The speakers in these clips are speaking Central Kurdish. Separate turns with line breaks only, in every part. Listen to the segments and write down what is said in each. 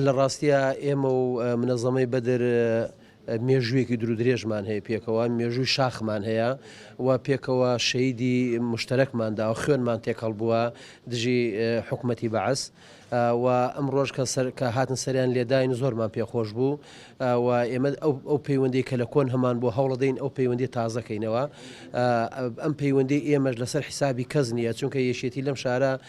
لە ڕاستیا ئێمە و منەزەمەی بەدر مێژوویەکی درو درێژمان هەیە پێکەوە مێژووی شاخمان هەیە و پێکەوە شەیدی مشتەرەکماندا و خوێنمان تێکەڵ بووە دژی حکوومەتتی بەعس و ئەم ڕۆژ کە سەر کە هاتن سەریان لێداین زۆرمان پێخۆش بوو و ئێمە ئەو پەیوەندی کە لە کۆن هەمان بۆ هەوڵدەین ئەو پەیوەندی تازەکەینەوە ئەم پەیوەندی ئێمەش لەسەر حیسابی کەس نییە چونکە یەشێتی لەم شارە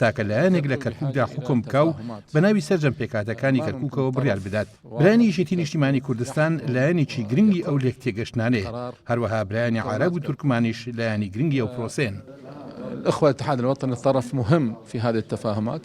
تاکە لایەنێک لە کەرکوکدا حوکم بکا و بە ناوی سەرجەم پێکهاتەکانی کەرکوکەوە بڕیار بدات. برایانی یەکێتی نیشتیمانی کوردستان لایەنێکی گرنگی ئەو لێکتێگەشتنانەیە، هەروەها برایانی عارەب و تورکمانیش لایەنی گرنگی ئەو
پرۆسەیەن. الاخوە
اتحاد
الوطنی طرف مهم فی هذه
التفاهمات.